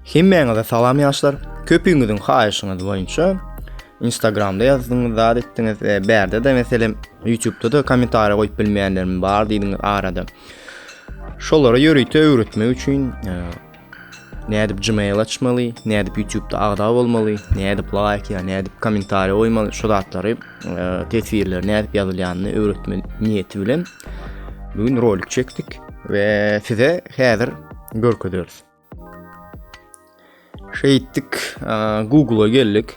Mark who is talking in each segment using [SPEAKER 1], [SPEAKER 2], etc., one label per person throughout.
[SPEAKER 1] Hemmäňize salam ýaşlar. Köpüňiziň haýyşyňyz boýunça Instagramda ýazdyňyz, zat etdiňiz, e, bärde de meselem YouTubeda da kommentariýa goýup bilmeýänlerim bar diýdiňiz arada. Şolara ýörite öwretmek üçin e, Nädip gmail açmaly, nädip ýutubda agza bolmaly, nädip laýk ýa nädip kommentariýa goýmaly şu zatlary e, teswirler nädip ýazylýanyny öwretme niýeti bilen bu gün rolik çekdik we size häzir görkezeris. Şeýtdik, e, Google-a geldik.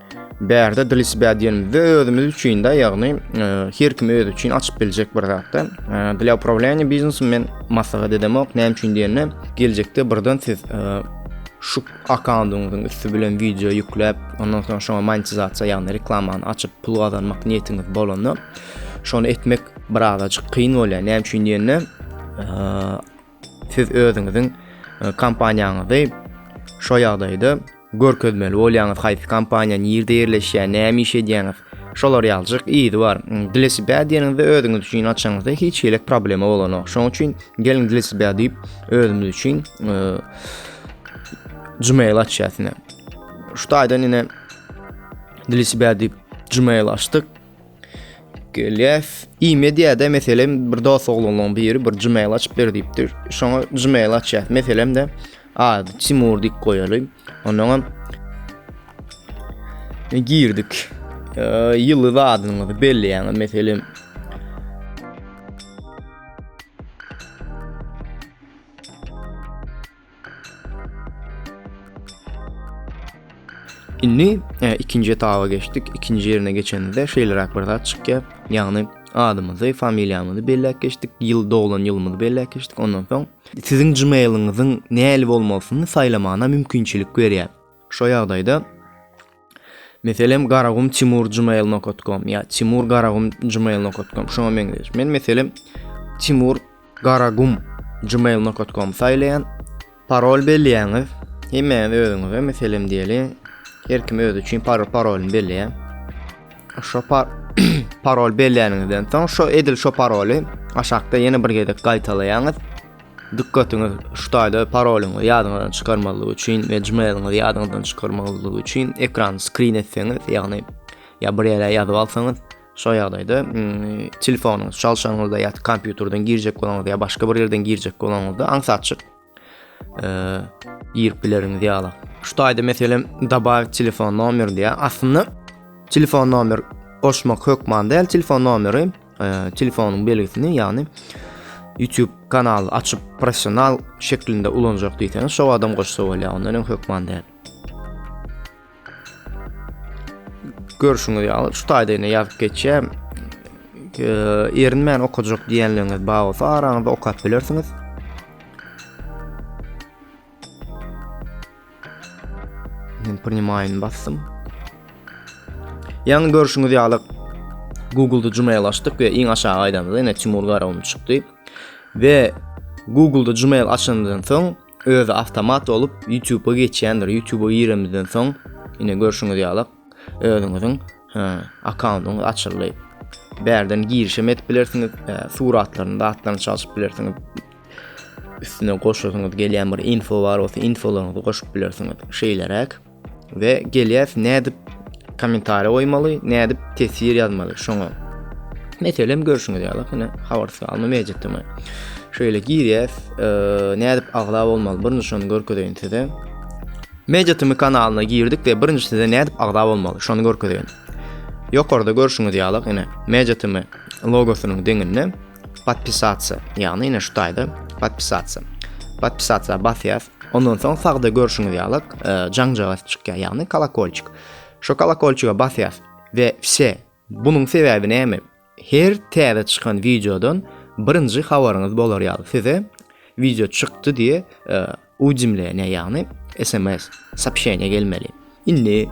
[SPEAKER 1] Bärde dlisbä diýenimizde özümiz üçin de, ýagny her kim özi üçin açyp biljek bir zatda. Dla upravlýany biznesem men maslahat edemok. Näme üçin diýende, geljekde birden siz şu akkaundyňyzyň üsti bilen wideo ýükläp, ondan soň şoňa monetizasiýa, ýagny reklamany açyp pul gazanmak niýetiňiz bolanda, şony etmek birazajyk kyn bolýar. Näme üçin diýende, Siz özüňiziň kompaniýaňyzy şo ýagdaýda görkezmeli bolýaňyz, haýsy kompaniýa, nirde ýerleşýär, näme iş edýäňiz, şolar ýalyjyk yzy bar. Dilesi bä diýeniňizde özüňiz üçin açaňyzda hiç hili problema bolanok. Şonuň üçin geliň dilesi bä diýip özümiz üçin Gmail açýas ine. Şu taýdan ine dilesi bä diýip Gmail açdyk. Gelýäs. E-mediada meselem bir dost oglanlaryň biri bir Gmail açyp ber diýipdir. Şoňa Gmail açýas. Meselem de ad Timur diýip goýaly. Ondan hem girdik. Ýyly zadyňyzy belleýäň. Meselem Indi e, ikinji etaba geçdik. İkinci yerine geçenimizde şeýleräk bir zat çykýar. Ýagny adymyzy, familiýamyzy belläp geçdik, ýyl doglan ýylymyzy belläp geçdik. Ondan soň siziň Gmail-iňiziň näli bolmalysyny saýlamagyna mümkinçilik berýär. Şo ýagdaýda Meselem garagum timur gmail.com ya timur garagum gmail.com şoňa meňzeş. Men meselem timur garagum gmail.com saýlaýan. Parol belleýäňiz. Hemmäňiz özüňize meselem diýeli. Her kim özi üçin parol parolyny belleýär. Şo par parol belleýäniňizden soň şo edil şo paroly aşakda ýene bir gezek gaýtalaýaňyz. Dykgatyňyz şu taýda parolyňyzy ýadyňyzdan çykarmazlyk üçin we gmailiňyzy ýadyňyzdan çykarmazlyk üçin ekrany skrin etseňiz ýagny ýa bir ýere ýazyp alsaňyz şo ýagdaýda telefonyňyz çalşanyňyzda ýa kompýuterden girjek bolanyňyzda ýa başga bir ýerden girjek bolanyňyzda aňsatçyk girip bileriňiz ýaly şu taýda meselem добавить telefon nomer diýýär aslynda telefon nomer goşmak hökman däl telefon nomeri Telefonyň belgisini, ýagny YouTube kanaly açyp professional şeklinde ulanjak diýseňiz, şo adam goşsa bolýar, ondan öň hökman däl. Görüşüňiz ýaly, şu taýda ýene ýazyp geçýär. Erinmän okajak diýenleriňiz bar bolsa, araňyzda okap bilersiňiz. Men primaýyny basdym. Ýaňy görşüňiz ýaly Google-da Gmail açdyk we iň aşaga aýdamyzda ýene Timur Garawun çykdy. We Google-da Gmail açandan soň özi awtomat bolup YouTube-a geçýändir. YouTube-a giremizden soň ýene görşüňiz ýaly özüňiziň akkauntyňyz açyldy. Bärden girişim edip bilersiňiz, suratlaryny, zatlaryny çalşyp bilersiňiz. üstüne goşasyňyz gelýän bir info bar bolsa infolaryňyzy goşup bilersiňiz şeýleräk we gelýäs nädip kommentariýa goýmaly nädip teswir ýazmaly şoňa meselem görşüňiz ýaly hine habarsyz alma mejitimi şeýle girýäs e, nädip agza bolmaly birinji şony görkezeýin size Mejitimi kanalyna girdik we birinji size nädip agza bolmaly şony görkezeýin. Ýokarda görşüňiz ýaly, ine, Mejitimi logosynyň deňinde Podpisatsa, ýagny ine şu taýda podpisatsa. Podpisatsa basýas. Ondan soň sagda görşüňiz ýaly e, jaňjaga çykýar, ýagny kolokolçik. Şu kolokolçiga basýas we wse. Bunuň sebäbi näme? Her täze çykan wideodan birinji habaryňyz bolar ýaly. Size wideo çykdy diýe e, Ujemleniýe ýagny sms, soobşeniýe gelmeli. Indi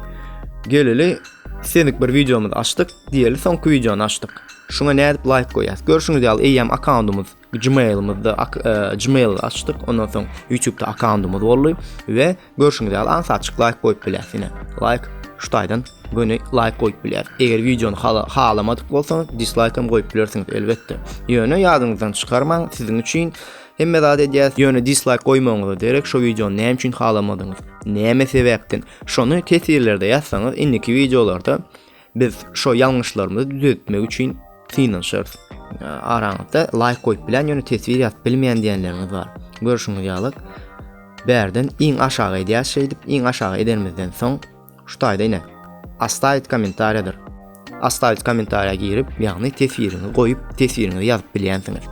[SPEAKER 1] geleli istedik bir wideomyzy açdyk, diýeli soňky wideony açdyk. Şuňa nädip laýk goýýas? Görşüňiz ýaly eýýäm akkauntymyz Gmailymyzda e, Gmail açdyk. Ondan soň YouTube'da akkauntymyz boldy we görşüňiz ýaly ansaçyk laýk goýup bilýäs ýene. Laýk şu taýdan göni laýk goýup bilýär. Eger wideony halamadyk bolsaňyz, dislaýk hem goýup bilersiňiz elbetde. Ýöne ýadyňyzdan çykarmaň, siziň üçin Hemme zat edýäs, ýöne dislike goýmagyňyza derek şu wideony näme üçin halamadyňyz? Näme sebäpden? Şony teswirlerde ýazsaňyz, indiki wideolarda biz şu ýalňyşlarymyzy düzeltmek üçin synanyşarys. Araňyzda like goýup bilen ýöne teswir ýazyp bilmeýän diýenleriňiz bar. Görşüňiz ýaly, bärden iň aşaga edýäs şeýdip, iň aşaga edenimizden soň Şu taýda ine. Ostavit kommentariýadyr. Ostavit kommentariýa girip, ýagny teswiriňi goýup, teswiriňizi ýazyp bilýänsiňiz.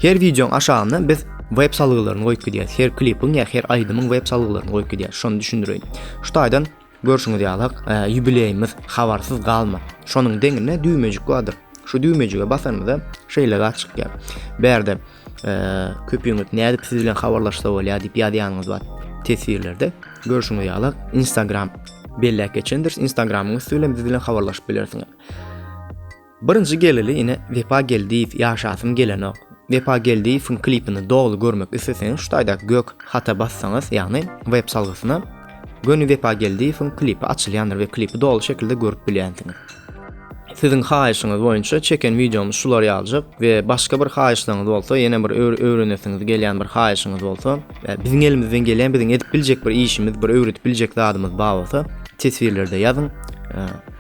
[SPEAKER 1] Her wideoň aşagynda biz web salgylaryny goýup gidýäs. Her klipiň ýa her aýdymyň web salgylaryny goýup gidýäs. Şony düşündireýin. Şu taýdan görşüňiz ýaly, e, ýubileýimiz habarsyz galma. Şonuň deňinde düwmejik bardyr. Şu düwmejige basanymyzda şeýle zat çykýar. Bärde e, köpüňiz nädip siz bilen habarlaşsa bolýar diýip ýazýanyňyz bar. Teswirlerde görşüňiz ýaly Instagram belläp geçendir. Instagramyň üstü bilen biz bilen habarlaşyp bilersiňiz. Birinji geleli ine Wepa Geldiýew ýaşasym gelenok. Wepa Geldiýewiň klipini doly görmek isleseňiz şu taýdaky gök hata bassaňyz ýagny web salgysyna göni Wepa Geldiýewiň klipi açylýandyr we klipi doly şekilde görüp bilýänsiňiz. Siziň haýyşyňyz boýunça çeken wideomyz şular ýaljyk we başga bir haýyşlaryňyz bolsa ýene bir öwrenesiňiz gelýän bir haýyşyňyz bolsa we biziň elimizden gelýän biziň edip biljek bir işimiz bir öwredip biljek zadymyz bar bolsa teswirlerde ýazyň.